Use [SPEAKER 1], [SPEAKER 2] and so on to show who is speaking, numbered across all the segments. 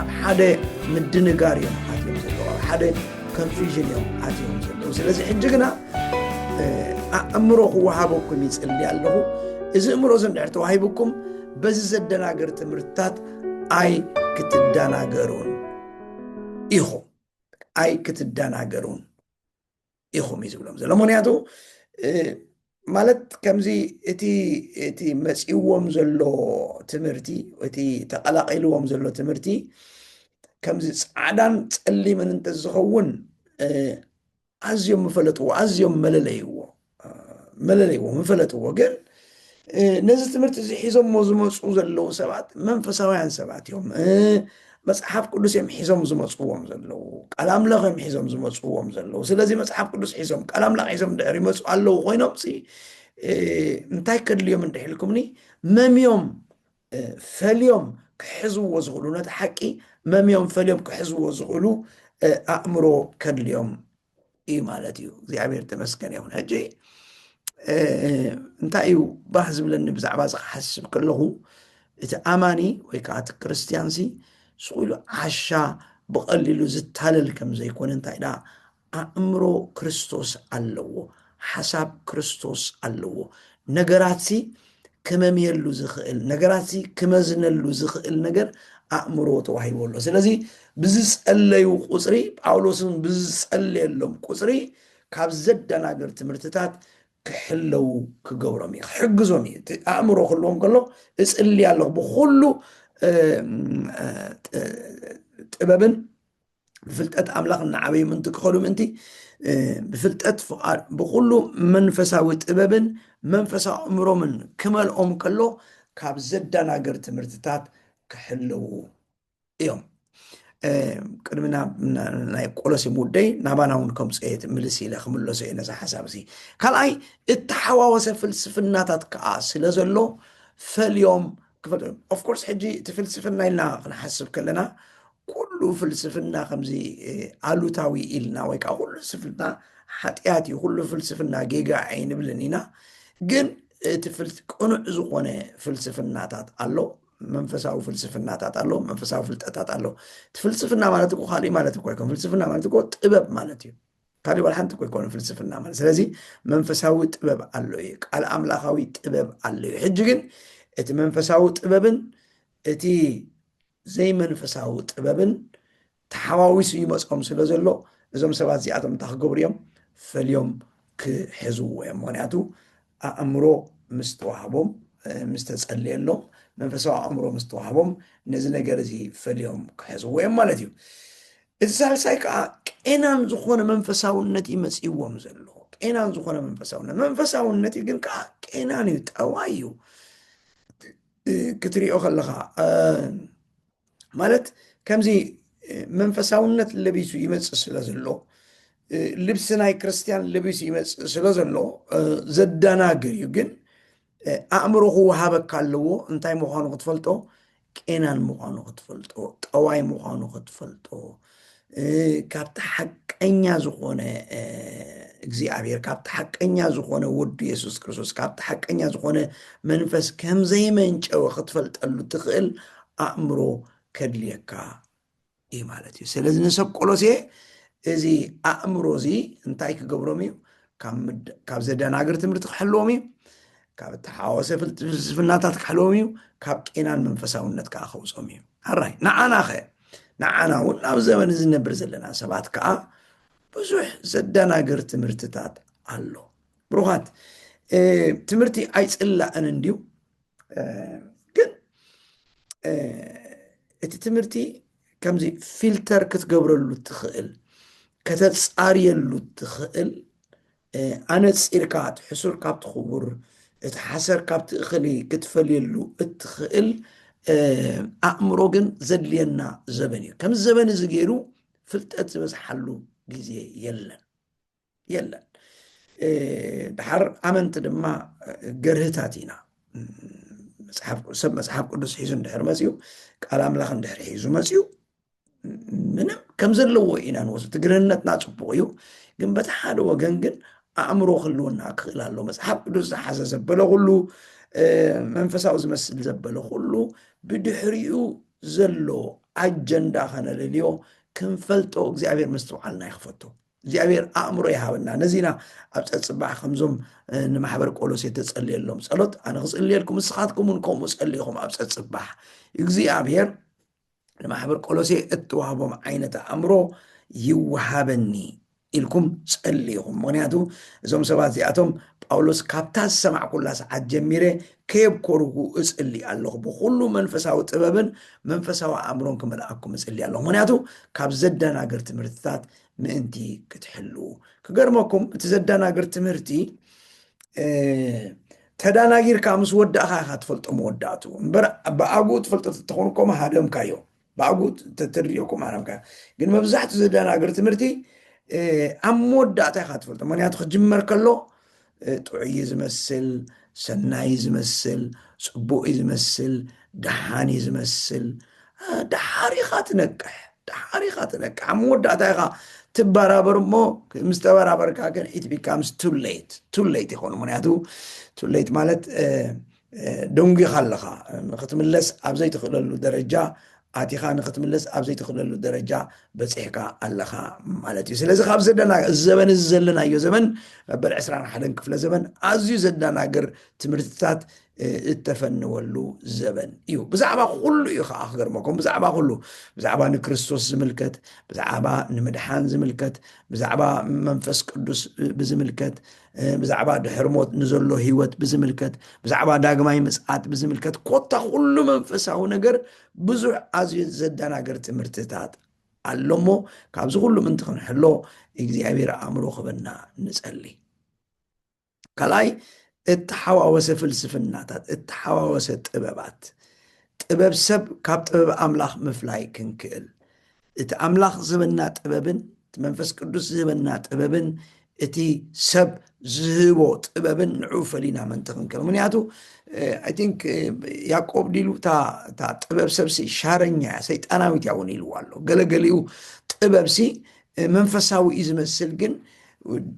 [SPEAKER 1] ኣብ ሓደ ምድንጋር እዮም ኣትዮም ዘለዉ ኣብ ሓደ ኮንፊዥን እዮም ኣትዮም ዘለዉ ስለዚ ሕጂ ግና ኣእምሮ ክወሃበኩም ይፅሊ ኣለኹ እዚ እምሮ እዚ እንድሕር ተዋሂብኩም በዚ ዘደናገር ትምህርትታት ኣይ ክትደናገሩን ኢኹም ኣይ ክትደናገሩን ኢኹም እዩ ዝብሎም ዘሎ ምክንያቱ ማለት ከምዚ እቲ እቲ መፂዎም ዘሎ ትምህርቲ እቲ ተቐላቂልዎም ዘሎ ትምህርቲ ከምዚ ፃዕዳን ፀሊምን እንተዝኸውን ኣዝዮም ምፈለጥዎ ኣዝዮም መለለይዎ መለለይዎ ምፈለጥዎ ግን ነዚ ትምህርቲ እዚ ሒዞሞ ዝመፁ ዘለዉ ሰባት መንፈሳውያን ሰባት እዮም መፅሓፍ ቅዱስ እዮም ሒዞም ዝመፅዎም ዘለዉ ቃል ኣምላኽ እዮም ሒዞም ዝመፅዎም ዘለዉ ስለዚ መፅሓፍ ቅዱስ ሒዞም ቃል ኣምላኽ ሒዞም ድሕር ይመፁ ኣለዉ ኮይኖም ሲ እንታይ ከድልዮም እንድሕልኩምኒ መምዮም ፈልዮም ክሕዝዎ ዝኽእሉ ነቲ ሓቂ መምዮም ፈልዮም ክሕዝዎ ዝኽእሉ ኣእምሮ ከድልዮም እዩ ማለት እዩ እግዚኣብሔር ተመስገን ይኹን ሕጂ እንታይ እዩ ባህ ዝብለኒ ብዛዕባ እዚ ክሓስብ ከለኹ እቲ ኣማኒ ወይ ከዓ እቲ ክርስትያንሲ ስኢሉ ዓሻ ብቐሊሉ ዝታለል ከም ዘይኮነ እንታይ ደኣ ኣእምሮ ክርስቶስ ኣለዎ ሓሳብ ክርስቶስ ኣለዎ። ነገራትሲ ክመምየሉ ዝኽእል ነገራትሲ ክመዝነሉ ዝኽእል ነገር ኣእምሮ ተዋሂቦ ኣሎ። ስለዚ ብዝጸለዩ ቁጽሪ ጳውሎስን ብዝጸለየሎም ቁጽሪ ካብ ዘደናግር ትምህርትታት ክሕለው ክገብሮም እዩ ክሕግዞም እዩ ኣእምሮ ክህልዎም ከሎ እፅልያ ኣለኹ ብኩሉ ጥበብን ብፍልጠት ኣምላኽ እናዓበዩ ምንቲ ክኸዱ ምእንቲ ብፍልጠት ፍቓድ ብኩሉ መንፈሳዊ ጥበብን መንፈሳዊ እምሮምን ክመልኦም ከሎ ካብ ዘደናግር ትምህርትታት ክሕልው እዮም ቅድሚ ናይ ቆሎሲ ሙደይ ናባና እውን ከምፅ እየ ምልስ ኢለ ክምለሶ እየ ነዚ ሓሳብ እዚ ካልኣይ እተሓዋወሰ ፍልስፍናታት ከዓ ስለ ዘሎ ፈልዮም ክፈልጡ እዮም ኦፍ ኮርስ ሕጂ እቲ ፍልስፍና ኢልና ክንሓስብ ከለና ኩሉ ፍልስፍና ከምዚ ኣሉታዊ ኢልና ወይ ከዓ ኩሉ ፍልስፍና ሓጢኣት እዩ ኩሉ ፍልስፍና ጌጋ ኣይንብልን ኢና ግን እቲ ቅኑዕ ዝኾነ ፍልስፍናታት ኣሎ መንፈሳዊ ፍልስፍናታት ኣሎ መንፈሳዊ ፍልጠታት ኣሎ እቲ ፍልስፍና ማለት እኮ ካሊእ ማለት እኮ ኣይኮን ፍልስፍና ማለት እኮ ጥበብ ማለት እዩ ካሊእ ዋላ ሓንቲ እኮ ኣይኮነን ፍልስፍና ማለት ስለዚ መንፈሳዊ ጥበብ ኣሎ እዩ ቃል ኣምላኻዊ ጥበብ ኣሎ እዩ ሕጂ ግን እቲ መንፈሳዊ ጥበብን እቲ ዘይመንፈሳዊ ጥበብን ተሓዋዊሱ ይመፆም ስለ ዘሎ እዞም ሰባት እዚኣቶም እንታይ ክገብሩ እዮም ፈልዮም ክሕዝዎ እዮም ምክንያቱ ኣእምሮ ምስ ተዋህቦም፣ ምስ ተጸልየሎም፣ መንፈሳዊ ኣእምሮ ምስ ተዋህቦም ነዚ ነገር እዚ ፈልዮም ክሕዝዎ እዮም ማለት እዩ። እቲ ሳልሳይ ከዓ ቄናን ዝኾነ መንፈሳውነት እዩ መጺእዎም ዘሎ ቄናን ዝኾነ መንፈሳውነት መንፈሳውነት እዩ ግን ከዓ ቄናን እዩ ጠዋይ እዩ ክትሪኦ ከለኻ እ፣ ማለት ከምዚ መንፈሳውነት ለቢሱ ይመፅእ ስለ ዘሎ ልብሲ ናይ ክርስትያን ለቢሱ ይመፅእ ስለ ዘሎ ዘደናግር እዩ ግን ኣእምሮ ክወሃበካ ኣለዎ እንታይ ምዃኑ ክትፈልጦ ቄናን ምዃኑ ክትፈልጦ ጠዋይ ምዃኑ ክትፈልጦ ካብቲ ሓቀኛ ዝኾነ እግዚኣብሔር ካብቲ ሓቀኛ ዝኾነ ወዱ የሱስ ክርስቶስ ካብቲ ሓቀኛ ዝኾነ መንፈስ ከም ዘይመንጨወ ክትፈልጠሉ ትኽእል ኣእምሮ ከድልየካ እዩ ማለት እዩ ስለዚ ንሰብ ቆሎሴ እዚ ኣእምሮ እዚ እንታይ ክገብሮም እዩ ካብ ዘደናግር ትምህርቲ ክሕልዎም እዩ ካብ እተሓወሰ ፍልስፍናታት ክሕልዎም እዩ ካብ ቄናን መንፈሳውነት ከዓ ከውፆም እዩ ኣራይ ንዓና ኸ ንዓና እውን ኣብ ዘበን እዚ ነብር ዘለና ሰባት ከዓ ብዙሕ ዘደናግር ትምህርትታት ኣሎ ብሩኻት ትምህርቲ ኣይፅላእን እንድዩ ግን እቲ ትምህርቲ ከምዚ ፊልተር ክትገብረሉ ትኽእል ከተፃርየሉ ትኽእል ኣነጺርካ እቲ ሕሱር ካብቲ ክቡር እቲ ሓሰር ካብቲ እኽሊ ክትፈልየሉ እትኽእል ኣእምሮ ግን ዘድልየና ዘበን እዩ ከምዚ ዘበን እዚ ገይሩ ፍልጠት ዝበዝሓሉ ግዜ የለን የለን ድሓር ኣመንቲ ድማ ገርህታት ኢና ሰብ መፅሓፍ ቅዱስ ሒዙ እንድሕር መፅኡ ቃል ኣምላኽ እንድሕር ሒዙ መፅኡ ምንም ከም ዘለዎ ኢና ንወስ ትግርነትና ፅቡቅ እዩ ግን በቲ ሓደ ወገን ግን ኣእምሮ ክህልወና ክኽእል ኣሎ መፅሓፍ ቅዱስ ዝሓዘ ዘበለ ኩሉ መንፈሳዊ ዝመስል ዘበለ ኩሉ ብድሕሪኡ ዘሎ ኣጀንዳ ከነለልዮ ክንፈልጦ እግዚኣብሔር ምስትውዓልና ይክፈቶ እግዚኣብሔር ኣእምሮ ይሃበና ነዚና ኣብ ፀፅባሕ ከምዞም ንማሕበር ቆሎሴ ተፀልየሎም ፀሎት ኣነ ክፅልየልኩም ንስኻትኩም እውን ከምኡ ፀልኢኹም ኣብ ፀፅባሕ እግዚኣብሔር ንማሕበር ቆሎሴ እትዋህቦም ዓይነት ኣእምሮ ይወሃበኒ ኢልኩም ጸልዩ ኢኹም። ምኽንያቱ እዞም ሰባት እዚኣቶም ጳውሎስ ካብታ ዝሰማዕኩላ ሰዓት ጀሚረ ከየብኮርኩ እጽሊ ኣለኹ፣ ብኹሉ መንፈሳዊ ጥበብን መንፈሳዊ ኣእምሮን ክመልኣኩም እጽሊ ኣለኹ፣ ምኽንያቱ ካብ ዘደናግር ትምህርትታት ምእንቲ ክትሕልዉ። ክገርመኩም እቲ ዘደናግር ትምህርቲ ተዳናጊርካ ምስ ወዳእካ ኢካ ትፈልጦ መወዳእቱ እምበር ብኣግኡ ትፈልጦ ተተኮን ኮማ ሃደምካዮ ብኣግኡ ተትርዮ ኮማ ሃደምካዮ ግን መብዛሕቱ ዘደናግር ትምህርቲ ኣብ መወዳእታ ኢካ ትፈልጦ ምክንያቱ ክጅመር ከሎ ጥዑይ ዝመስል ሰናይ ዝመስል ፅቡቅ ዝመስል ደሓን ዝመስል ደሓር ኢካ ትነቅሕ ደሓር ኢኻ ትነቅሕ ኣብ መወዳእታ ኢኻ ትበራበር እሞ ምስ ተበራበርካ ግን ኢት ቢካምስ ቱሌት ቱሌት ይኾኑ ምክንያቱ ቱሌት ማለት ደንጒኻ ኣለኻ ንክትምለስ ኣብ ዘይትኽእለሉ ደረጃ ኣቲኻ ንክትምለስ ኣብ ዘይትኽእለሉ ደረጃ በፂሕካ ኣለኻ ማለት እዩ ስለዚ ካብ ዘለና እዚ ዘበን እዚ ዘለናዮ ዘበን መበል 21 ክፍለ ዘበን ኣዝዩ ዘደናግር ትምህርትታት እተፈንወሉ ዘበን እዩ ብዛዕባ ኩሉ እዩ ከዓ ክገርመኩም ብዛዕባ ኩሉ ብዛዕባ ንክርስቶስ ዝምልከት ብዛዕባ ንምድሓን ዝምልከት ብዛዕባ መንፈስ ቅዱስ ብዝምልከት ብዛዕባ ድሕር ሞት ንዘሎ ህይወት ብዝምልከት ብዛዕባ ዳግማይ ምፅዓት ብዝምልከት ኮታ ኩሉ መንፈሳዊ ነገር ብዙሕ ኣዝዩ ዘደናገር ትምህርትታት ኣሎ እሞ ካብዚ ኩሉ ምንቲ ክንሕሎ እግዚኣብሔር ኣእምሮ ክበና ንጸልይ ካልኣይ እተሓዋወሰ ፍልስፍናታት፣ እተሓዋወሰ ጥበባት፣ ጥበብ ሰብ ካብ ጥበብ ኣምላኽ ምፍላይ ክንክእል፣ እቲ ኣምላኽ ዝህበና ጥበብን እቲ መንፈስ ቅዱስ ዝህበና ጥበብን እቲ ሰብ ዝህቦ ጥበብን ንዑ ፈሊና ምእንቲ ክንከል ምክንያቱ ኣይ ቲንክ ያቆብ ዲሉ እታ ጥበብ ሰብሲ ሻረኛ እያ ሰይጣናዊት እያ እውን ኢልዎ ኣሎ ገለገሊኡ ጥበብሲ መንፈሳዊ እዩ ዝመስል ግን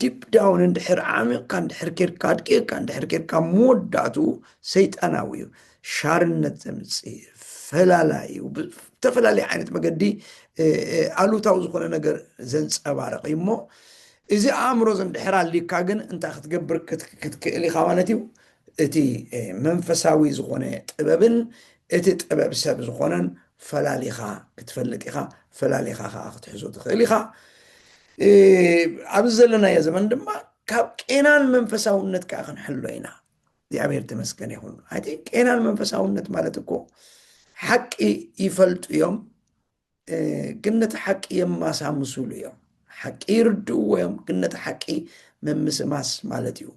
[SPEAKER 1] ዲፕ ዳውን እንድሕር ዓሚቕካ እንድሕር ኬድካ ኣድቂቕካ እንድሕር ኬድካ መወዳእትኡ ሰይጣናዊ እዩ ሻርነት ዘምፅእ ፈላላይ እዩ ብተፈላለየ ዓይነት መገዲ ኣሉታዊ ዝኾነ ነገር ዘንፀባርቕ እዩ እሞ እዚ ኣእምሮ ዘንድሕር ኣልካ ግን እንታይ ክትገብር ክትክእል ኢኻ ማለት እዩ እቲ መንፈሳዊ ዝኾነ ጥበብን እቲ ጥበብ ሰብ ዝኾነን ፈላሊኻ ክትፈልጥ ኢኻ፣ ፈላሊኻ ከኣ ክትሕዞ ትኽእል ኢኻ። ኣብዚ ዘለናዮ ዘመን ድማ ካብ ቄናን መንፈሳውነት ከኣ ክንሕሎ ኢና። እግዚኣብሔር ተመስገን ይኹን። ኣይቲ ቄናን መንፈሳውነት ማለት እኮ ሓቂ ይፈልጡ እዮም፣ ግን ነቲ ሓቂ የማሳምሱሉ እዮም። ሓቂ ይርድእዎ እዮም ግን ነቲ ሓቂ ምምስማስ ማለት እዩ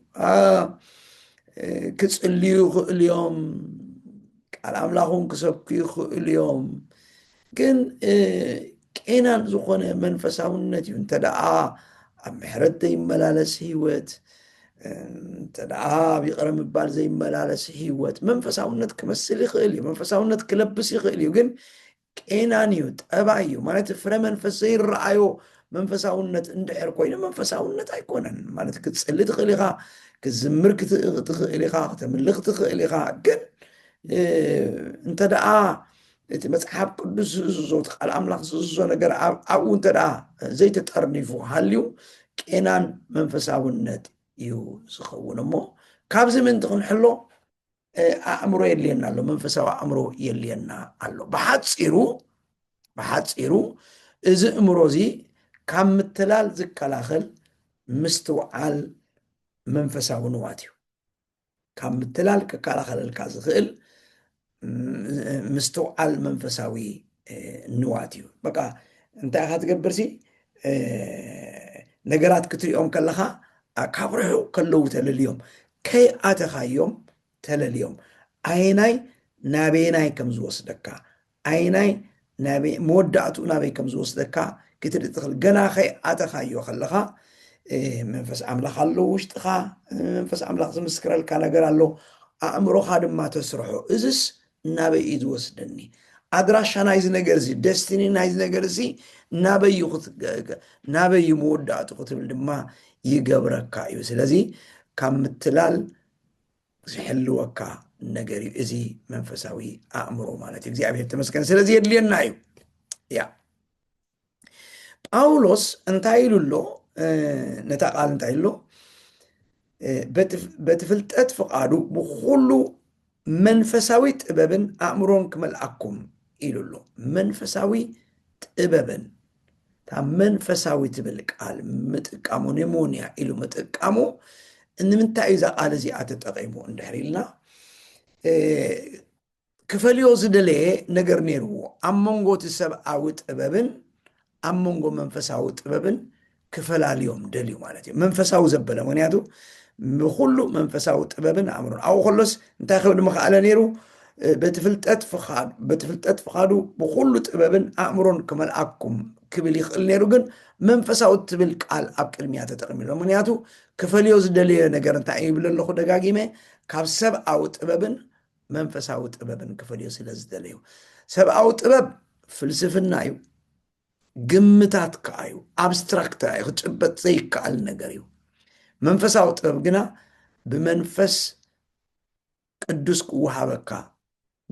[SPEAKER 1] ክፅልዩ ይኽእሉ እዮም ቃል ኣምላኹን ክሰብኩ ይኽእሉ እዮም ግን ቄናን ዝኾነ መንፈሳውነት እዩ እንተ ደኣ ኣብ ምሕረት ዘይመላለስ ህይወት እንተ ደኣ ኣብ ይቕረ ምባል ዘይመላለስ ህይወት መንፈሳውነት ክመስል ይኽእል እዩ መንፈሳውነት ክለብስ ይኽእል እዩ ግን ቄናን እዩ ጠባይ እዩ ማለት ፍረ መንፈስ ዘይረኣዮ መንፈሳውነት እንድሕር ኮይኑ መንፈሳውነት ኣይኮነን ማለት ክትፅሊ ትኽእል ኢኻ ክትዝምር ትኽእል ኢኻ ክተምልኽ ትኽእል ኢኻ ግን እንተ ደኣ እቲ መፅሓፍ ቅዱስ ዝእዝዞ እቲ ቃል ኣምላኽ ዝእዝዞ ነገር ኣብኡ እንተ ደኣ ዘይተጠርኒፉ ሃልዩ ቄናን መንፈሳውነት እዩ ዝኸውን እሞ ካብዚ ምእንቲ ክንሕሎ ኣእምሮ የድልየና ኣሎ መንፈሳዊ ኣእምሮ የድልየና ኣሎ ብሓፂሩ ብሓፂሩ እዚ እምሮ እዚ ካብ ምትላል ዝከላኸል ምስትውዓል መንፈሳዊ ንዋት እዩ ካብ ምትላል ክከላኸለልካ ዝኽእል ምስትውዓል መንፈሳዊ ንዋት እዩ በቃ እንታይ ኢኻ ትገብርሲ ነገራት ክትሪኦም ከለኻ ካብ ርሑቕ ከለዉ ተለልዮም ከይኣተኻዮም ተለልዮም ኣየናይ ናበየናይ ከም ዝወስደካ ኣየናይ መወዳእትኡ ናበይ ከም ዝወስደካ ክትርኢ ትኽእል ገና ከይኣተኻዮ ከለኻ መንፈስ ኣምላኽ ኣሎ ውሽጥኻ መንፈስ ኣምላኽ ዝምስክረልካ ነገር ኣሎ ኣእምሮኻ ድማ ተስርሖ እዝስ ናበይ እዩ ዝወስደኒ ኣድራሻ ናይዚ ነገር እዚ ደስቲኒ ናይዚ ነገር እዚ ናበይ ናበይ እዩ መወዳእቱ ክትብል ድማ ይገብረካ እዩ ስለዚ ካብ ምትላል ዝሕልወካ ነገር እዩ እዚ መንፈሳዊ ኣእምሮ ማለት እዩ እግዚኣብሔር ተመስገን ስለዚ የድልየና እዩ ያ ጳውሎስ እንታይ ኢሉ ኣሎ? ነታ ቃል እንታይ ኢሉ በቲ ፍልጠት ፍቓዱ ብኩሉ መንፈሳዊ ጥበብን ኣእምሮን ክመልኣኩም ኢሉ ኣሎ። መንፈሳዊ ጥበብን እታ መንፈሳዊ ትብል ቃል ምጥቃሙ ኒሞንያ ኢሉ ምጥቃሙ ንምንታይ እዩ እዛ ቃል እዚኣ ተጠቂሙ እንድሕር ኢልና ክፈልዮ ዝደለየ ነገር ነይርዎ። ኣብ መንጎ እቲ ሰብኣዊ ጥበብን ኣብ መንጎ መንፈሳዊ ጥበብን ክፈላልዮም ደልዩ ማለት እዩ። መንፈሳዊ ዘበለ ምክንያቱ ብኩሉ መንፈሳዊ ጥበብን ኣእምሮን ኣብኡ ከሎስ እንታይ ክብል ምክኣለ ነይሩ በቲ ፍልጠት ፍቃዱ በቲ ፍልጠት ፍቃዱ ብኩሉ ጥበብን ኣእምሮን ክመልኣኩም ክብል ይኽእል ነይሩ ግን መንፈሳዊ ትብል ቃል ኣብ ቅድሚያ ተጠቅሚሎ ምክንያቱ ክፈልዮ ዝደለዮ ነገር እንታይ እዩ ይብል ኣለኹ ደጋጊመ ካብ ሰብኣዊ ጥበብን መንፈሳዊ ጥበብን ክፈልዮ ስለ ዝደለዩ። ሰብኣዊ ጥበብ ፍልስፍና እዩ፣ ግምታት ከዓ እዩ፣ ኣብስትራክት እዩ፣ ክጭበጥ ዘይከኣል ነገር እዩ። መንፈሳዊ ጥበብ ግና ብመንፈስ ቅዱስ ክወሃበካ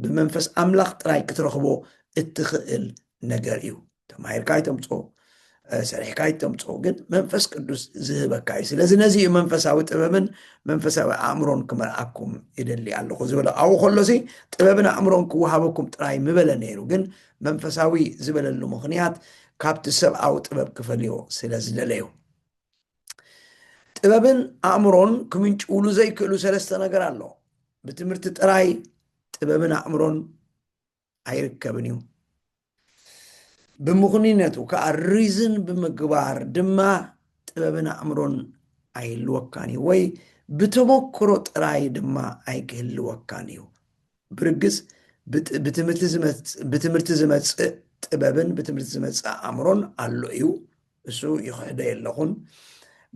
[SPEAKER 1] ብመንፈስ ኣምላኽ ጥራይ ክትረኽቦ እትኽእል ነገር እዩ። ተማሂርካ ኣይተምፅኦ ሰሪሕካ ኣይተምፅኦ ግን መንፈስ ቅዱስ ዝህበካ እዩ ስለዚ ነዚ እዩ መንፈሳዊ ጥበብን መንፈሳዊ ኣእምሮን ክመርኣኩም ይደሊ ኣለኹ ዝበለ ኣብኡ ከሎሲ ጥበብን ኣእምሮን ክወሃበኩም ጥራይ ምበለ ነይሩ ግን መንፈሳዊ ዝበለሉ ምክንያት ካብቲ ሰብኣዊ ጥበብ ክፈልዮ ስለ ዝደለዩ ጥበብን ኣእምሮን ክምንጭውሉ ዘይክእሉ ሰለስተ ነገር ኣሎ ብትምህርቲ ጥራይ ጥበብን ኣእምሮን ኣይርከብን እዩ። ብምኽንይነቱ ከዓ ሪዝን ብምግባር ድማ ጥበብን ኣእምሮን ኣይህልወካን እዩ ወይ ብተሞክሮ ጥራይ ድማ ኣይክህልወካን እዩ። ብርግፅ ብትምህርቲ ዝመፅእ ጥበብን ብትምህርቲ ዝመፅእ ኣእምሮን ኣሎ እዩ እሱ ይኽሕዶ የለኹን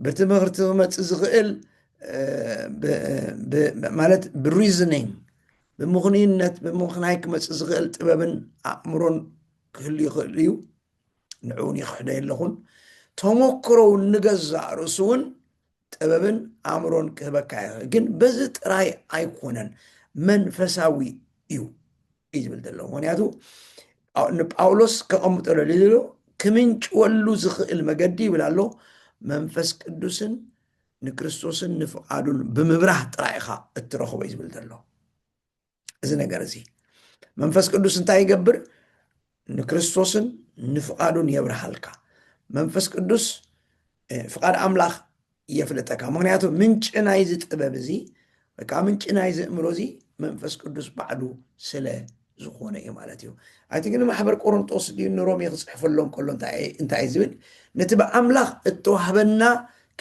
[SPEAKER 1] ብትምህርቲ ክመፅእ ዝኽእል ማለት ብሪዝኒንግ ብምኽንይነት ብምኽናይ ክመፅእ ዝኽእል ጥበብን ኣእምሮን ክህሉ ይኽእል እዩ ንዕውን ይኽሕዶ የለኹን ተሞክሮ እውን ንገዛእ ርእሱ እውን ጥበብን ኣእምሮን ክህበካ ይኽእል ግን በዚ ጥራይ ኣይኮነን መንፈሳዊ እዩ እዩ ዝብል ዘሎ ምክንያቱ ንጳውሎስ ከቐምጦ ደልዩ ዘሎ ክምንጭወሉ ዝኽእል መገዲ ይብል ኣሎ መንፈስ ቅዱስን ንክርስቶስን ንፍቓዱን ብምብራህ ጥራይ ኢኻ እትረኽቦ እዩ ዝብል ዘሎ እዚ ነገር እዚ መንፈስ ቅዱስ እንታይ ይገብር ንክርስቶስን ንፍቓዱን የብርሃልካ መንፈስ ቅዱስ ፍቓድ ኣምላኽ የፍልጠካ ምክንያቱ ምንጪ ናይዚ ጥበብ እዚ ወይ ከዓ ምንጪ ናይዚ እምሮ እዚ መንፈስ ቅዱስ ባዕሉ ስለ ዝኾነ እዩ ማለት እዩ ኣቲ ግን ማሕበር ቆሮንጦስ ድዩ ንሮሜ ክፅሕፈሎም ከሎ እንታይ እዩ ዝብል ነቲ ብኣምላኽ እተዋህበና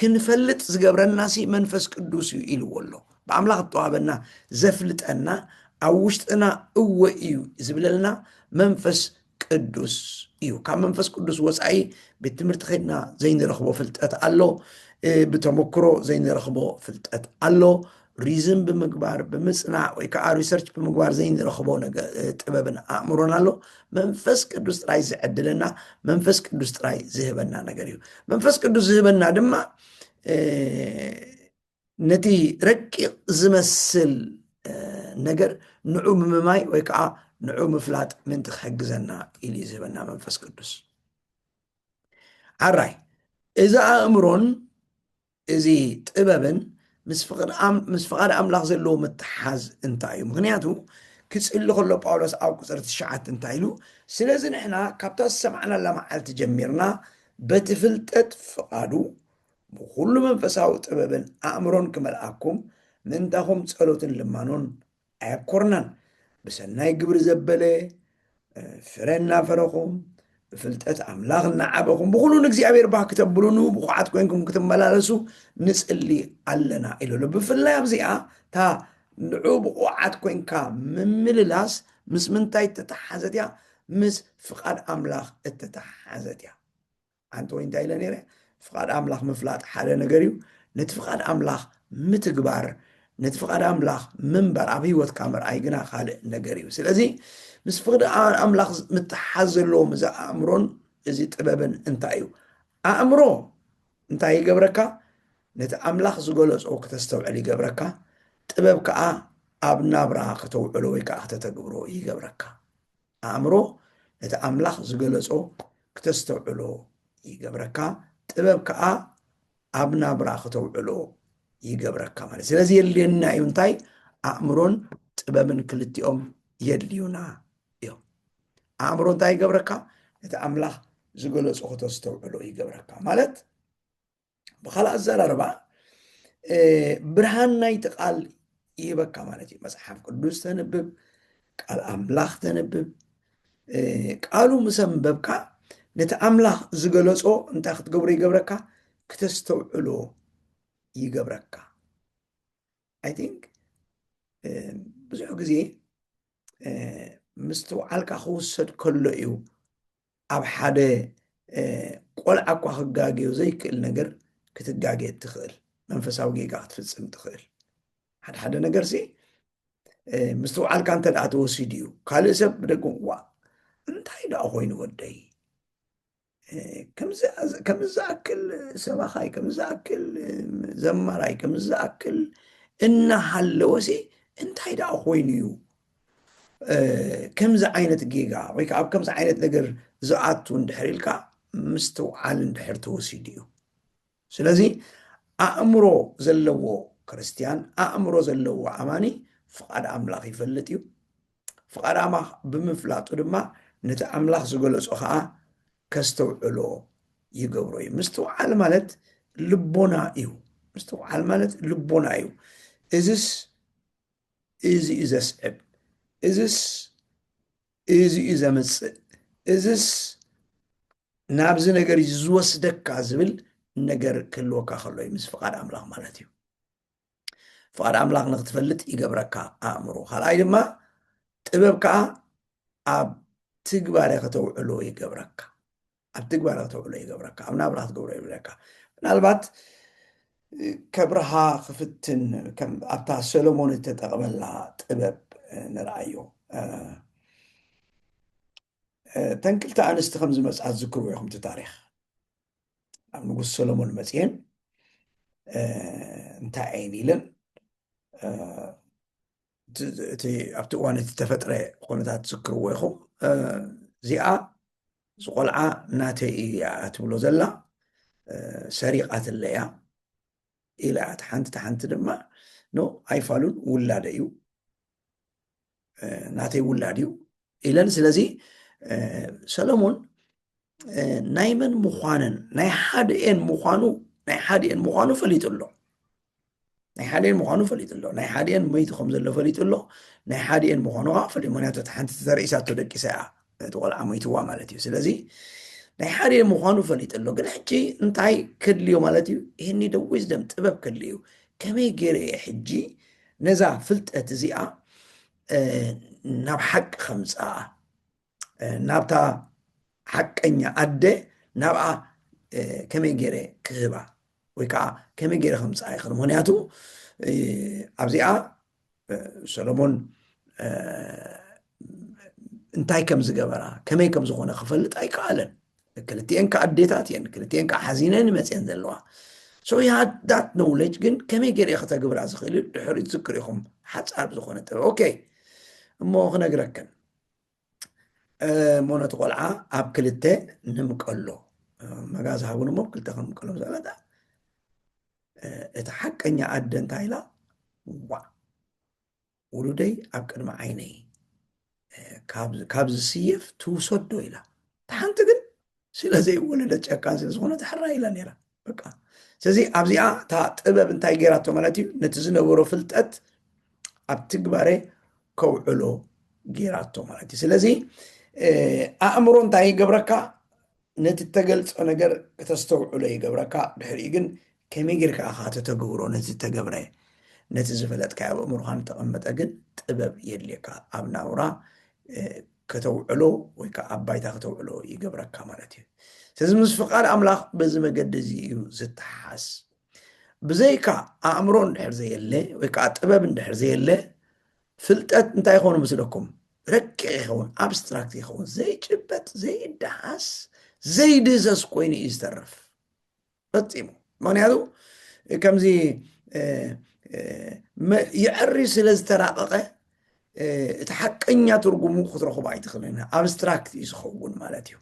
[SPEAKER 1] ክንፈልጥ ዝገብረና ሲ መንፈስ ቅዱስ እዩ ኢልዎ ኣሎ ብኣምላኽ ዝተዋህበና ዘፍልጠና ኣብ ውሽጥና እወ እዩ ዝብለልና መንፈስ ቅዱስ እዩ ካብ መንፈስ ቅዱስ ወፃኢ ቤት ትምህርቲ ከድና ዘይንረኽቦ ፍልጠት ኣሎ ብተመክሮ ዘይንረኽቦ ፍልጠት ኣሎ ሪዝን ብምግባር ብምፅናዕ ወይ ከዓ ሪሰርች ብምግባር ዘይንረኽቦ ጥበብን ኣእምሮን ኣሎ መንፈስ ቅዱስ ጥራይ ዝዕድለና መንፈስ ቅዱስ ጥራይ ዝህበና ነገር እዩ መንፈስ ቅዱስ ዝህበና ድማ ነቲ ረቂቕ ዝመስል ነገር ንዑ ምምማይ ወይ ከዓ ንዑ ምፍላጥ ምንቲ ክሕግዘና ኢሉ እዩ ዝህበና መንፈስ ቅዱስ ዓራይ እዚ ኣእምሮን እዚ ጥበብን ምስ ፍቓድ ኣምላኽ ዘለዎ ምትሓዝ እንታይ እዩ ምክንያቱ ክፅሊ ከሎ ጳውሎስ ኣብ ቁፅሪ ትሽዓት እንታይ ኢሉ ስለዚ ንሕና ካብታ ዝሰማዕናላ መዓልቲ ጀሚርና በቲ ፍልጠት ፍቓዱ ብኹሉ መንፈሳዊ ጥበብን ኣእምሮን ክመልኣኩም ምእንታኹም ጸሎትን ልማኖን ኣየብኮርናን። ብሰናይ ግብሪ ዘበለ ፍረ እናፈረኹም ብፍልጠት ኣምላኽ እናዓበኹም ብኹሉ ንእግዚኣብሔር ባህ ክተብሉኑ ብኩዓት ኮይንኩም ክትመላለሱ ንጽሊ ኣለና ኢሉ ኣሎ። ብፍላይ ኣብዚኣ እታ ንዑ ብቑዓት ኮይንካ ምምልላስ ምስ ምንታይ እተተሓሓዘት እያ? ምስ ፍቓድ ኣምላኽ እተተሓሓዘት እያ። ኣንቲ ወይ እንታይ ኢለ ነይረ ፍቃድ ኣምላኽ ምፍላጥ ሓደ ነገር እዩ ነቲ ፍቃድ ኣምላኽ ምትግባር ነቲ ፍቃድ ኣምላኽ ምንባር ኣብ ህይወትካ ምርኣይ ግና ካልእ ነገር እዩ ስለዚ ምስ ፍቅዲ ኣምላኽ ምትሓዝ ዘለዎ ምዚ ኣእምሮን እዚ ጥበብን እንታይ እዩ ኣእምሮ እንታይ ይገብረካ ነቲ ኣምላኽ ዝገለጾ ክተስተውዕል ይገብረካ ጥበብ ከዓ ኣብ ናብራ ከተውዕሎ ወይ ከዓ ክተተግብሮ ይገብረካ ኣእምሮ ነቲ ኣምላኽ ዝገለጾ ክተስተውዕሎ ይገብረካ፣ ጥበብ ከኣ ኣብ ናብራ ክተውዕሎ ይገብረካ ማለት ስለዚ የድልየና እዩ እንታይ ኣእምሮን ጥበብን ክልቲኦም የድልዩና እዮም ኣእምሮ እንታይ ይገብረካ ነቲ ኣምላኽ ዝገለፆ ክተስተውዕሎ ይገብረካ ማለት ብካልእ ኣዘራርባ ብርሃን ናይቲ ቃል ይህበካ ማለት እዩ መፅሓፍ ቅዱስ ተንብብ ቃል ኣምላኽ ተንብብ ቃሉ ምስ ኣንበብካ ነቲ ኣምላኽ ዝገለፆ እንታይ ክትገብሮ ይገብረካ ክተስተውዕሎ ይገብረካ ኣይ ቲንክ ብዙሕ ግዜ ምስትውዓልካ ክውሰድ ከሎ እዩ ኣብ ሓደ ቆልዓ እኳ ክጋገዮ ዘይክእል ነገር ክትጋገ እትኽእል መንፈሳዊ ጌጋ ክትፍጽም ትኽእል ሓደ ሓደ ነገር ሲ ምስትውዓልካ እንተ ደኣ ተወሲዱ እዩ ካልእ ሰብ ብደገ ዋ እንታይ ደኣ ኮይኑ ወደይ ከምዚ ዝኣክል ሰባኻይ ከምዚ ዝኣክል ዘማራይ ከምዚ ዝኣክል እናሃለወሲ እንታይ ደኣ ኮይኑ እዩ ከምዚ ዓይነት ጌጋ ወይ ከዓ ኣብ ከምዚ ዓይነት ነገር ዝኣቱ እንድሕር ኢልካ ምስትውዓል እንድሕር ተወሲዱ እዩ ስለዚ ኣእምሮ ዘለዎ ክርስትያን ኣእምሮ ዘለዎ ኣማኒ ፍቓድ ኣምላኽ ይፈልጥ እዩ ፍቓድ ኣምላኽ ብምፍላጡ ድማ ነቲ ኣምላኽ ዝገለጾ ከዓ ከስተውዕሎ ይገብሮ እዩ ምስትውዓል ማለት ልቦና እዩ ምስትውዓል ማለት ልቦና እዩ እዝስ እዚ እዩ ዘስዕብ፣ እዝስ እዚ እዩ ዘምፅእ፣ እዝስ ናብዚ ነገር እዩ ዝወስደካ ዝብል ነገር ክህልወካ ከሎ እዩ ምስ ፍቓድ ኣምላኽ ማለት እዩ ፍቓድ ኣምላኽ ንክትፈልጥ ይገብረካ ኣእምሮ ካልኣይ ድማ ጥበብ ከዓ ኣብ ትግባረ ከተውዕሎ ይገብረካ ኣብ ትግባረ ተውዕሎ ይገብረካ ኣብ ናብራ ክትገብሮ ይብለካ ምናልባት ከብርሃ ክፍትን ኣብታ ሰሎሞን እተጠቕመላ ጥበብ ንርኣዮ እተን ክልተ ኣንስቲ ከም ዝመፅኣ ዝዝክርዎ ኢኹም እቲ ታሪክ ኣብ ንጉስ ሰሎሞን መፅኤን እንታይ ዓይን ኢለን እቲ ኣብቲ እዋን እቲ ተፈጥረ ኩነታት ዝዝክርዎ ኢኹም እዚኣ እዚ ቆልዓ ናተይ እዩ እያ እትብሎ ዘላ ሰሪቃትለ እያ ኢላ እያ ሓንቲ ተሓንቲ ድማ ኖ ኣይፋሉን ውላደ እዩ ናተይ ውላድ እዩ ኢለን ስለዚ ሰለሞን ናይ መን ምዃነን ናይ ሓድኤን ምዃኑ ናይ ሓድኤን ምዃኑ ፈሊጡ ኣሎ ናይ ሓደን ምዃኑ ፈሊጡ ኣሎ ናይ ሓደን መይቱ ከም ዘሎ ፈሊጡ ኣሎ ናይ ሓደን ምዃኑ ከዓ ፈሊጡ ምክንያቱ እቲ ሓንቲ ተዘርኢሳቶ ደቂሳ እያ እቲ ቆልዓ መይትዋ ማለት እዩ ስለዚ ናይ ሓደን ምዃኑ ፈሊጡ ኣሎ ግን ሕጂ እንታይ ከድልዮ ማለት እዩ ይህኒ ደዊ ዝደም ጥበብ ከድልዩ እዩ ከመይ ገይረ እየ ሕጂ ነዛ ፍልጠት እዚኣ ናብ ሓቂ ከምፅኣ ናብታ ሓቀኛ ኣደ ናብኣ ከመይ ገይረ ክህባ ወይ ከዓ ከመይ ገይረ ከምፅኣ ይኽእል ምክንያቱ ኣብዚኣ ሰሎሞን እንታይ ከም ዝገበራ ከመይ ከም ዝኾነ ክፈልጥ ኣይከኣለን ክልቲኤን ከዓ ኣዴታት እየን ክልቲኤን ከዓ ሓዚነን መፅን ዘለዋ ሶ ሃድ ዳት ኖውለጅ ግን ከመይ ገይረ ከተግብራ ዝኽእል ድሕሪ ዝክር ኢኹም ሓፃር ብዝኾነ ጥበብ ኦኬ እሞ ክነግረክን እሞ ነቲ ቆልዓ ኣብ ክልተ ንምቀሎ መጋዝ ሃቡን እሞ ክልተ ከምቀሎ ዘበለ እቲ ሓቀኛ ኣደ እንታይ ኢላ ዋ ውሉደይ ኣብ ቅድሚ ዓይነይ ካብ ዝስየፍ ትውሰዶ ኢላ እቲ ሓንቲ ግን ስለዘይወለደት ጨካን ስለዝኾነት ሕራይ ኢላ ነይራ በቃ ስለዚ ኣብዚኣ እታ ጥበብ እንታይ ገይራቶ ማለት እዩ ነቲ ዝነበሮ ፍልጠት ኣብ ትግባረ ከውዕሎ ገይራቶ ማለት እዩ ስለዚ ኣእምሮ እንታይ ይገብረካ ነቲ እተገልፆ ነገር ከተስተውዕሎ ይገብረካ ድሕሪኡ ግን ከመይ ጌርካ ኢኻ ተተግብሮ ነቲ ዝተገብረ ነቲ ዝፈለጥካ ኣብ ኣእምሮካ ንተቐመጠ ግን ጥበብ የድልየካ ኣብ ናውራ ከተውዕሎ ወይ ከኣ ኣብ ባይታ ከተውዕሎ ይገብረካ ማለት እዩ። ስለዚ ምስ ፍቓድ ኣምላኽ በዚ መገዲ እዚ እዩ ዝተሓሓዝ። ብዘይካ ኣእምሮ እንድሕር ዘየለ ወይ ከኣ ጥበብ እንድሕር ዘየለ ፍልጠት እንታይ ይኾኑ ምስለኩም ረቂቕ ይኸውን ኣብስትራክት ይኸውን ዘይጭበጥ ዘይደሃስ ዘይድህሰስ ኮይኑ እዩ ዝተርፍ ፈፂሙ ምክንያቱ ከምዚ ይዕሪ ስለ ዝተራቀቀ እቲ ሓቀኛ ትርጉሙ ክትረኽቦ ኣይትኽእልን ኣብስትራክት እዩ ዝኸውን ማለት እዩ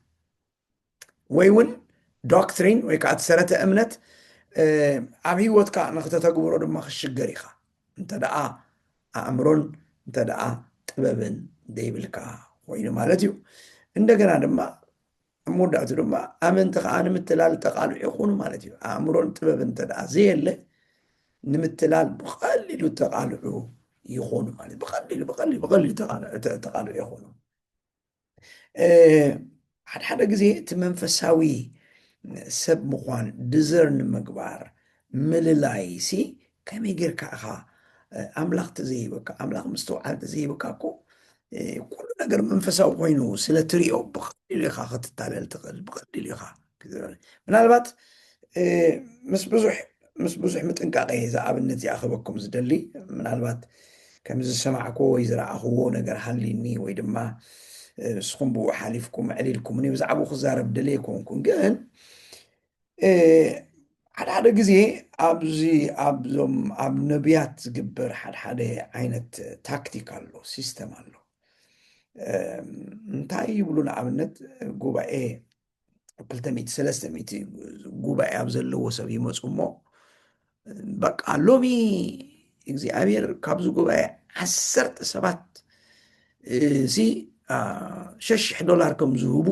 [SPEAKER 1] ወይ እውን ዶክትሪን ወይ ከዓ ሰረተ እምነት ኣብ ሂወትካ ንክተተግብሮ ድማ ክሽገር ኢኻ እንተደኣ ኣእምሮን እንተደኣ ጥበብን ዘይብልካ ኮይኑ ማለት እዩ እንደገና ድማ ኣብ መወዳእትኡ ድማ ኣመንቲ ከዓ ንምትላል ተቓልዑ ይኹኑ ማለት እዩ። ኣእምሮን ጥበብን እንተደኣ ዘየለ ንምትላል ብቐሊሉ ተቓልዑ ይኾኑ ማለት ብቐሊሉ ብቐሊሉ ብቐሊሉ ተቓልዑ ይኾኑ። ሓድሓደ ግዜ እቲ መንፈሳዊ ሰብ ምዃን ድዘርን ምግባር ምልላይ ሲ ከመይ ጌርካ ኢኻ ኣምላኽ ተዘይህበካ ኣምላኽ ምስትውዓል ተዘይህበካ እኮ ኩሉ ነገር መንፈሳዊ ኮይኑ ስለ ትሪኦ ብቐሊሉ ኢኻ ክትታለል ትኽእል ብቐሊሉ ኢኻ ምናልባት ምስ ብዙሕ ምስ ብዙሕ ምጥንቃቐ እየ እዛ ኣብነት እዚኣ ክበኩም ዝደሊ ምናልባት ከም ዝሰማዕክዎ ወይ ዝረኣኽዎ ነገር ሃሊኒ ወይ ድማ ንስኹም ብኡ ሓሊፍኩም ዕሊልኩምኒ ብዛዕባኡ ክዛረብ ደልየ ኮንኩን ግን ሓደ ሓደ ግዜ ኣብዚ ኣብዞም ኣብ ነቢያት ዝግበር ሓድሓደ ዓይነት ታክቲክ ኣሎ ሲስተም ኣሎ እንታይ ይብሉ ንኣብነት ጉባኤ ክልተ ሚእቲ ሰለስተ ሚእቲ ጉባኤ ኣብ ዘለዎ ሰብ ይመፁ እሞ በቃ ሎሚ እግዚኣብሔር ካብዚ ጉባኤ ዓሰርተ ሰባት እዚ ሸሽሕ ዶላር ከም ዝህቡ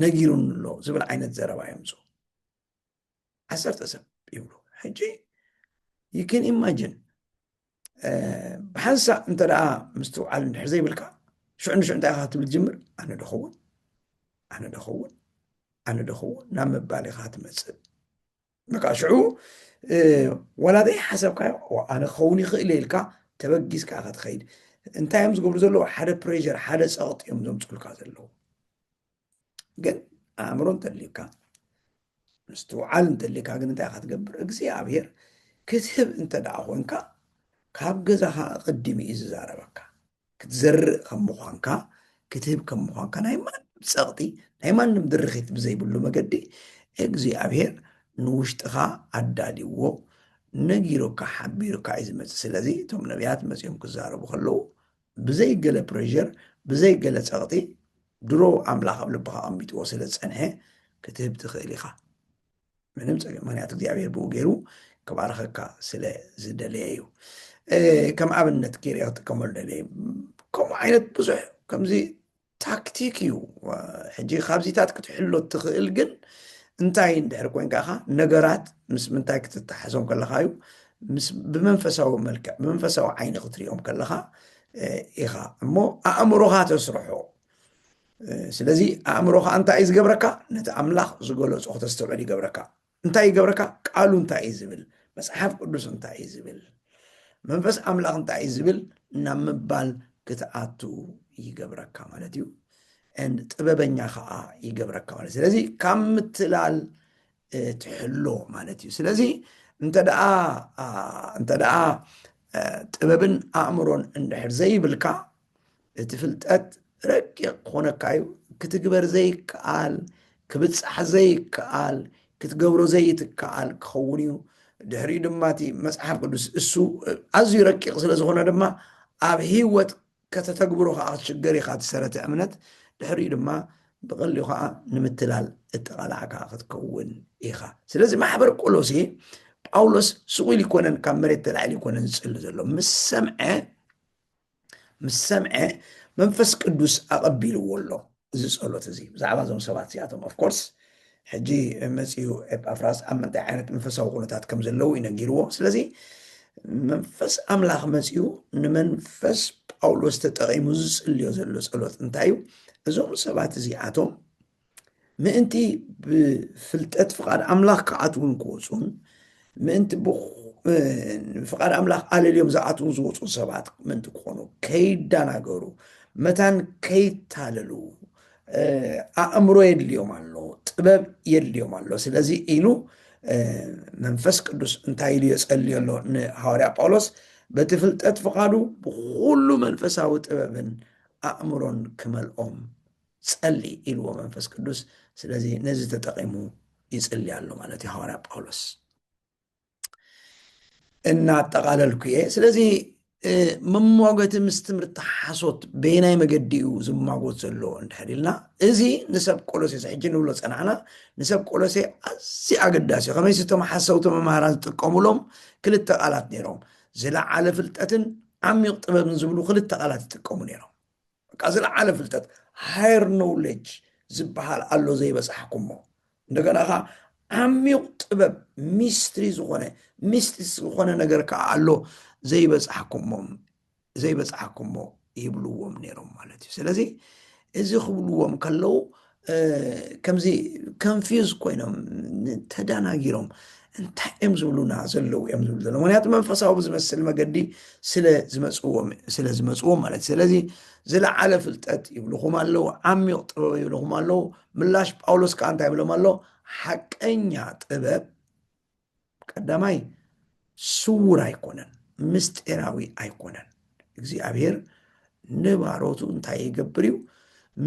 [SPEAKER 1] ነጊሩን ኣሎ ዝብል ዓይነት ዘረባ የምፁ ዓሰርተ ሰብ ይብሉ ሕጂ ይክን ኢማጅን ብሓንሳእ እንተ ደኣ ምስትውዓል እንድሕር ዘይብልካ ሽዑ ንሽዑ እንታይ ኢኻ ክትብል ትጅምር ኣነ ደኸውን ኣነ ደኸውን ኣነ ደኸውን ናብ ምባል ኢኻ ትመፅእ በቃ ሽዑ ዋላ ዘይሓሰብካዮ ኣነ ክኸውን ይኽእል እየ ኢልካ ተበጊስካ ኢኻ ትኸይድ እንታይ እዮም ዝገብሩ ዘለዉ ሓደ ፕሬር ሓደ ፀቕጢ እዮም ዘምፅልካ ዘለዉ ግን ኣእምሮ እንተልዩካ ምስትውዓል እንተልዩካ ግን እንታይ ኢኻ ትገብር እግዚኣብሔር ክትህብ እንተ ደኣ ኮንካ ካብ ገዛኻ ቅድሚ እዩ ዝዛረበካ ክትዘርእ ከም ምዃንካ፣ ክትህብ ከም ምዃንካ ናይ ማንም ጸቕጢ፣ ናይ ማንም ድርኺት ብዘይብሉ መገዲ እግዚኣብሔር ንውሽጥኻ ኣዳልይዎ፣ ነጊሩካ፣ ሓቢሩካ እዩ ዝመጽእ። ስለዚ እቶም ነብያት መጺኦም ክዛረቡ ከለዉ ብዘይ ገለ ፕረዠር፣ ብዘይ ገለ ጸቕጢ ድሮ ኣምላኽ ኣብ ልብኻ ኣቐሚጥዎ ስለ ዝጸንሐ ክትህብ ትኽእል ኢኻ። ምንም ጸገም ምክንያቱ እግዚኣብሔር ብኡ ገይሩ ክባርኸካ ስለ ዝደለየ እዩ ከም ኣብነት ገይረ ክጥቀመሉ ደለየ ከምኡ ዓይነት ብዙሕ ከምዚ ታክቲክ እዩ ሕጂ ካብዚታት ክትሕሎ ትኽእል ግን እንታይ እንድሕር ኮንካ ኢኻ ነገራት ምስ ምንታይ ክትተሓዞም ከለካ እዩ ብመንፈሳዊ መልክዕ ብመንፈሳዊ ዓይኒ ክትሪኦም ከለካ ኢኻ እሞ ኣእምሮኻ ተስርሖ ስለዚ ኣእምሮኻ እንታይ እዩ ዝገብረካ ነቲ ኣምላኽ ዝገለጾ ክተስተውዕል ይገብረካ እንታይ ይገብረካ ቃሉ እንታይ እዩ ዝብል መፅሓፍ ቅዱስ እንታይ እዩ ዝብል መንፈስ ኣምላኽ እንታይ እዩ ዝብል ናብ ምባል ክትኣቱ ይገብረካ ማለት እዩ ን ጥበበኛ ከዓ ይገብረካ ማለት ስለዚ ካብ ምትላል ትሕሎ ማለት እዩ ስለዚ እንተደኣ እንተደኣ ጥበብን ኣእምሮን እንድሕር ዘይብልካ እቲ ፍልጠት ረቂቕ ክኾነካ እዩ ክትግበር ዘይከኣል ክብጻሕ ዘይከኣል ክትገብሮ ዘይትከኣል ክኸውን እዩ ድሕሪኡ ድማ እቲ መጽሓፍ ቅዱስ እሱ ኣዝዩ ረቂቕ ስለ ዝኾነ ድማ ኣብ ህይወት ከተተግብሮ ከዓ ክትሽገር ኢኻ ትሰረተ እምነት ድሕሪኡ ድማ ብቐሊኡ ከዓ ንምትላል እተቓላዕካ ክትከውን ኢኻ ስለዚ ማሕበር ቆሎሴ ጳውሎስ ስቑኢል ይኮነን ካብ መሬት ተላዒሉ ይኮነን ዝጽሊ ዘሎ ምስ ሰምዐ ምስ ሰምዐ መንፈስ ቅዱስ ኣቐቢልዎ ኣሎ እዚ ጸሎት እዚ ብዛዕባ እዞም ሰባት እዚኣቶም ኦፍኮርስ ሕጂ መፅኡ ኤጳፍራስ ኣብ ምንታይ ዓይነት መንፈሳዊ ኩነታት ከም ዘለዉ እዩ ነጊርዎ ስለዚ መንፈስ ኣምላኽ መፅኡ ንመንፈስ ጳውሎስ ተጠቒሙ ዝፅልዮ ዘሎ ጸሎት እንታይ እዩ እዞም ሰባት እዚኣቶም ምእንቲ ብፍልጠት ፍቓድ ኣምላኽ ክኣትዉን ክወፁን ምእንቲ ፍቓድ ኣምላኽ ኣለልዮም ዝኣትዉን ዝወፁን ሰባት ምእንቲ ክኾኑ ከይዳናገሩ መታን ከይታለሉ ኣእምሮ የድልዮም ኣሎ ጥበብ የድልዮም ኣሎ ስለዚ ኢሉ መንፈስ ቅዱስ እንታይ ኢሉ የፀልዮ ኣሎ ንሃዋርያ ጳውሎስ በቲ ፍልጠት ፍቓዱ ብኩሉ መንፈሳዊ ጥበብን ኣእምሮን ክመልኦም ጸሊ ኢልዎ መንፈስ ቅዱስ ስለዚ ነዚ ተጠቂሙ ይጽሊ ኣሎ ማለት እዩ ሃዋርያ ጳውሎስ እናጠቃለልኩ እየ ስለዚ መሟገቲ ምስ ትምህርቲ ሓሶት በየናይ መገዲ እዩ ዝማጎት ዘሎ እንድሕር ኢልና እዚ ንሰብ ቆሎሴስ ሕጂ ንብሎ ፀናዕና ንሰብ ቆሎሴ ኣዚ ኣገዳሲ እዩ ከመይሲ እቶም ሓሰውቲ መምሃራን ዝጥቀሙሎም ክልተ ቃላት ነይሮም ዝለዓለ ፍልጠትን ዓሚቕ ጥበብን ዝብሉ ክልተ ቃላት ይጥቀሙ ነይሮም በቃ ዝለዓለ ፍልጠት ሃየር ኖውሌጅ ዝበሃል ኣሎ ዘይበፃሕኩሞ እንደገና ኸዓ ዓሚቕ ጥበብ ሚስትሪ ዝኾነ ሚስጢስ ዝኾነ ነገር ከዓ ኣሎ ዘይበፃሕኩሞ ዘይበፃሕኩሞ ይብልዎም ነይሮም ማለት እዩ ስለዚ እዚ ክብልዎም ከለው ከምዚ ከንፊዝ ኮይኖም ተዳናጊሮም እንታይ እዮም ዝብሉና ዘለዉ እዮም ዝብሉ ዘለዉ ምክንያቱ መንፈሳዊ ብዝመስል መገዲ ስለዝመፅዎም ስለዝመፅዎም ማለት እዩ ስለዚ ዝለዓለ ፍልጠት ይብልኹም ኣለዉ ዓሚቕ ጥበብ ይብልኹም ኣለዉ ምላሽ ጳውሎስ ከዓ እንታይ ይብሎም ኣሎ ሓቀኛ ጥበብ ቀዳማይ ስውር ኣይኮነን፣ ምስጢራዊ ኣይኮነን። እግዚኣብሔር ንባሮቱ እንታይ ይገብር እዩ?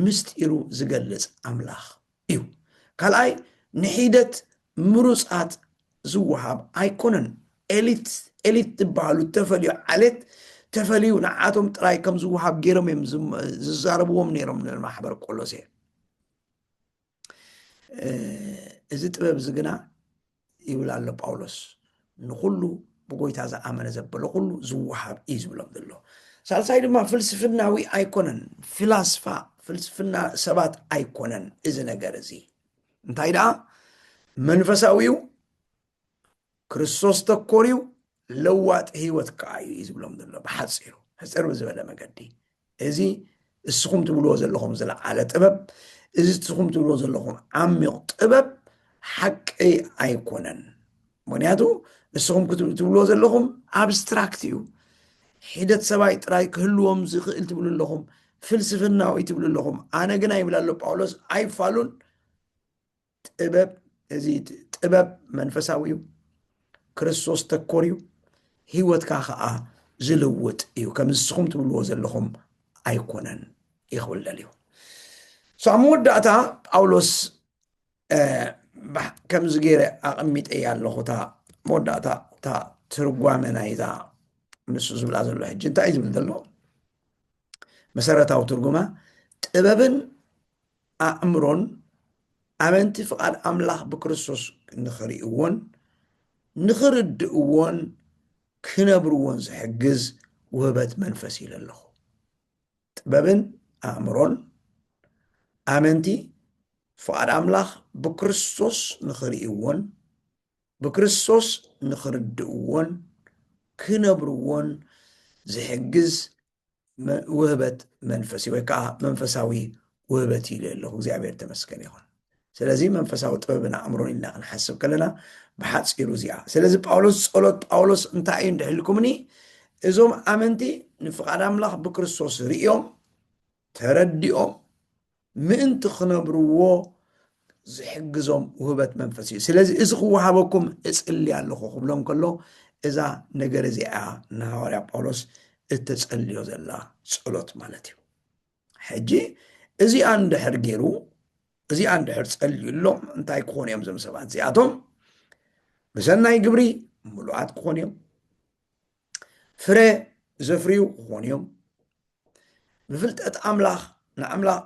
[SPEAKER 1] ምስጢሩ ዝገልጽ ኣምላኽ እዩ። ካልኣይ ንሒደት ምሩፃት ዝወሃብ ኣይኮነን። ኤሊት ኤሊት ዝበሃሉ ተፈልዩ ዓሌት ተፈልዩ ንዓቶም ጥራይ ከም ዝወሃብ ገይሮም እዮም ዝም- ዝዛረብዎም ነይሮም ንማሕበር ቆሎሴ እዚ ጥበብ እዚ ግና ይብል ኣሎ ጳውሎስ ንኹሉ ብጎይታ ዝኣመነ ዘበለ ኩሉ ዝወሃብ እዩ ዝብሎም ዘሎ ሳልሳይ ድማ ፍልስፍናዊ ኣይኮነን ፍላስፋ ፍልስፍና ሰባት ኣይኮነን እዚ ነገር እዚ እንታይ ደኣ መንፈሳዊው ክርስቶስ ተኮርዩ ለዋጢ ህይወት ከዓ እዩ እዩ ዝብሎም ዘሎ ብሓፂሩ ሕፅር ብዝበለ መገዲ እዚ እስኹም ትብልዎ ዘለኹም ዝለዓለ ጥበብ እዚ እስኹም ትብልዎ ዘለኹም ዓሚቕ ጥበብ ሓቂ ኣይኮነን ምክንያቱ እስኹም ክትብልዎ ዘለኹም ኣብስትራክት እዩ ሒደት ሰብኣይ ጥራይ ክህልዎም ዝኽእል ትብሉ ኣለኹም ፍልስፍናዊ ትብሉ ኣለኹም ኣነ ግና ይብል ኣሎ ጳውሎስ ኣይፋሉን ጥበብ እዚ ጥበብ መንፈሳዊ እዩ ክርስቶስ ተኮር እዩ ህይወትካ ከዓ ዝልውጥ እዩ ከም ንስኹም ትብልዎ ዘለኹም ኣይኮነን ይኽብል ደልዩ ሳብ መወዳእታ ጳውሎስ ከምዚ ገይረ ኣቐሚጠያ ኣለኹ እታ መወዳእታ እታ ትርጓመ ናይዛ ንሱ ዝብላ ዘሎ ሕጂ እንታይ እዩ ዝብል ዘሎ መሰረታዊ ትርጉማ ጥበብን ኣእምሮን ኣመንቲ ፍቓድ ኣምላኽ ብክርስቶስ ንኽርእይዎን ንኽርድእዎን ክነብርዎን ዝሕግዝ ውህበት መንፈስ ኢለ ኣለኹ። ጥበብን ኣእምሮን ኣመንቲ ፍቓድ ኣምላኽ ብክርስቶስ ንኽርእይዎን ብክርስቶስ ንኽርድእዎን ክነብርዎን ዝሕግዝ ውህበት መንፈስ ወይ ከዓ መንፈሳዊ ውህበት ኢለ ኣለኹ እግዚኣብሔር ተመስገን ይኹን ስለዚ መንፈሳዊ ጥበብን ኣእምሮን ኢልና ክንሓስብ ከለና ብሓፂሩ እዚኣ ስለዚ ጳውሎስ ጸሎት ጳውሎስ እንታይ እዩ እንድሕልኩምኒ እዞም ኣመንቲ ንፍቓድ ኣምላኽ ብክርስቶስ ርእዮም ተረዲኦም ምእንቲ ክነብርዎ ዝሕግዞም ውህበት መንፈስ እዩ ስለዚ እዚ ክወሃበኩም እጽሊ ኣለኹ ክብሎም ከሎ እዛ ነገር እዚኣ ንሃዋርያ ጳውሎስ እተጸልዮ ዘላ ጸሎት ማለት እዩ ሕጂ እዚኣ እንድሕር ገይሩ እዚኣ እንድሕር ጸልዩሎም እንታይ ክኾኑ እዮም ዞም ሰባት እዚኣቶም ብሰናይ ግብሪ ምሉኣት ክኾኑ እዮም ፍረ ዘፍርዩ ክኾኑ እዮም ብፍልጠት ኣምላኽ ንኣምላኽ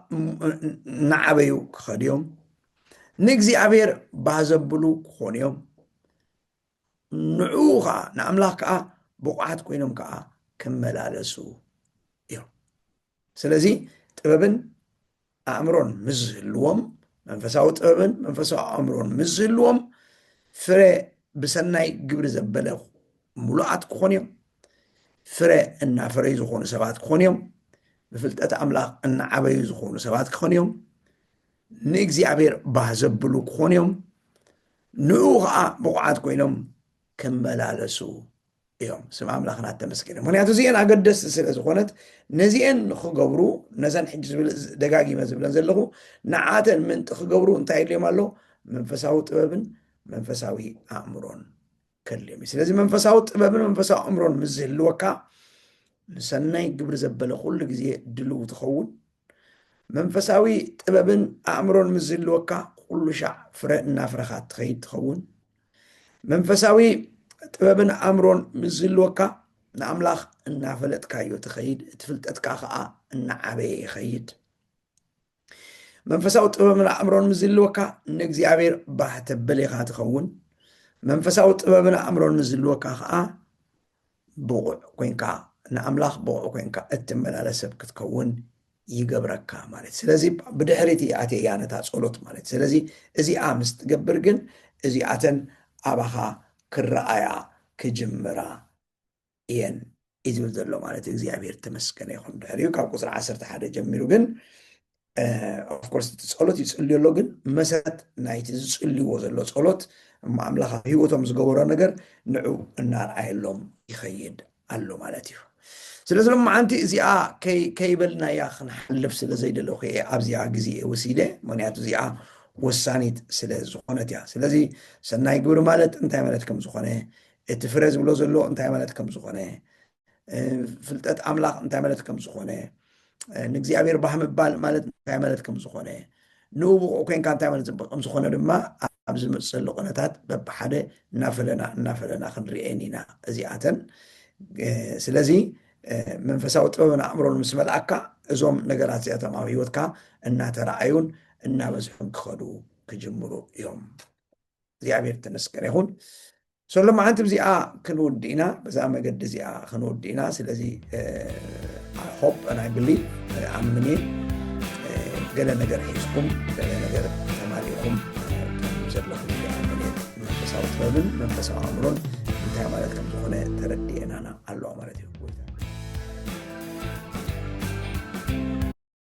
[SPEAKER 1] እናዓበዩ ክኸዱ እዮም ንእግዚኣብሔር ባህ ዘብሉ ክኾኑ እዮም ንዕኡ ከዓ ንኣምላኽ ከዓ ብቑዓት ኮይኖም ከዓ ክመላለሱ እዮም ስለዚ ጥበብን ኣእምሮን ምስ ዝህልዎም መንፈሳዊ ጥበብን መንፈሳዊ ኣእምሮን ምስ ዝህልዎም ፍረ ብሰናይ ግብሪ ዘበለ ምሉኣት ክኾኑ እዮም ፍረ እናፈረዩ ዝኾኑ ሰባት ክኾኑ እዮም ብፍልጠት ኣምላኽ እናዓበዩ ዝኾኑ ሰባት ክኾኑ እዮም ንእግዚኣብሔር ባህ ዘብሉ ክኾኑ እዮም ንኡ ከዓ ብቑዓት ኮይኖም ክመላለሱ እዮም ስም ኣምላኽ ናተመስገነ ምክንያቱ እዚኤን ኣገደስቲ ስለ ዝኾነት ነዚኤን ንክገብሩ ነዘን ሕጂ ዝብል ደጋጊመ ዝብለን ዘለኹ ንዓተን ምንጢ ክገብሩ እንታይ የድልዮም ኣሎ መንፈሳዊ ጥበብን መንፈሳዊ ኣእምሮን ከድልዮም እዩ ስለዚ መንፈሳዊ ጥበብን መንፈሳዊ ኣእምሮን ምስ ዝህልወካ ንሰናይ ግብሪ ዘበለ ኩሉ ግዜ ድልው ትኸውን መንፈሳዊ ጥበብን ኣእምሮን ምስ ዝህልወካ ኩሉ ሻዕ ፍረ እናፍረኻ ትኸይድ ትኸውን መንፈሳዊ ጥበብን ኣእምሮን ምስ ዝህልወካ ንኣምላኽ እናፈለጥካዮ ትኸይድ እቲ ፍልጠትካ ከዓ እናዓበየ ይኸይድ መንፈሳዊ ጥበብን ኣእምሮን ምስ ዝህልወካ ንእግዚኣብሔር ባህ ተብል ኢኻ ትኸውን መንፈሳዊ ጥበብን ኣእምሮን ምስ ዝህልወካ ከዓ ብቑዕ ኮይንካ ንኣምላኽ ብቑዕ ኮይንካ እትመላለስ ሰብ ክትከውን ይገብረካ ማለት እዩ። ስለዚ ብድሕሪት እየ ኣትየ እያ ነታ ጸሎት ማለት እዩ። ስለዚ እዚኣ ምስ ትገብር ግን እዚኣተን ኣባኻ ክረኣያ ክጅምራ እየን እዩ ዝብል ዘሎ ማለት እዩ። እግዚኣብሔር ተመስገነ ይኹን። ድሕሪኡ ካብ ቁጽሪ ዓሰርተ ሓደ ጀሚሩ ግን ኦፍኮርስ እቲ ፀሎት ይፅልዩ ኣሎ ግን መሰረት ናይቲ ዝፅልይዎ ዘሎ ፀሎት እሞ ኣምላኽ ኣብ ህይወቶም ዝገበሮ ነገር ንዑ እናርኣየሎም ይኸይድ ኣሎ ማለት እዩ ስለዚ ሎመዓንቲ እዚኣ ከይበልናያ ክንሓልፍ ስለ ዘይደለኹ እየ ኣብዚኣ ግዜ ወሲደ ምክንያቱ እዚኣ ወሳኒት ስለ ዝኾነት እያ ስለዚ ሰናይ ግብሪ ማለት እንታይ ማለት ከም ዝኾነ እቲ ፍረ ዝብሎ ዘሎ እንታይ ማለት ከም ዝኾነ ፍልጠት ኣምላኽ እንታይ ማለት ከም ዝኾነ ንእግዚኣብሔር ባህ ምባል ማለት እንታይ ማለት ከም ዝኾነ ንውብቑ ኮንካ እንታይ ማለት ፅብቅ ከም ዝኾነ ድማ ኣብ ዝመፅሉ ቁነታት በብሓደ እናፈለና እናፈለና ክንርኤን ኢና እዚኣተን ስለዚ መንፈሳዊ ጥበብን ኣእምሮን ምስ መልኣካ እዞም ነገራት እዚኣቶም ኣብ ሂወትካ እናተረኣዩን እናበዝሑን ክኸዱ ክጅምሩ እዮም እግዚኣብሔር ተመስገን ይኹን ሶ ሎማዓንቲ ብዚኣ ክንውድ ኢና በዛ መገዲ እዚኣ ክንውድ ኢና ስለዚ ሆፕ ናይ ብሊ ኣምን እየ ገለ ነገር ሒዝኩም ገለ ነገር ተማሊእኹም ዘለኹም ኣምን እየ መንፈሳዊ ጥበብን መንፈሳዊ ኣእምሮን እንታይ ማለት ከም ዝኾነ ተረድኤናና ኣለዋ ማለት እዩ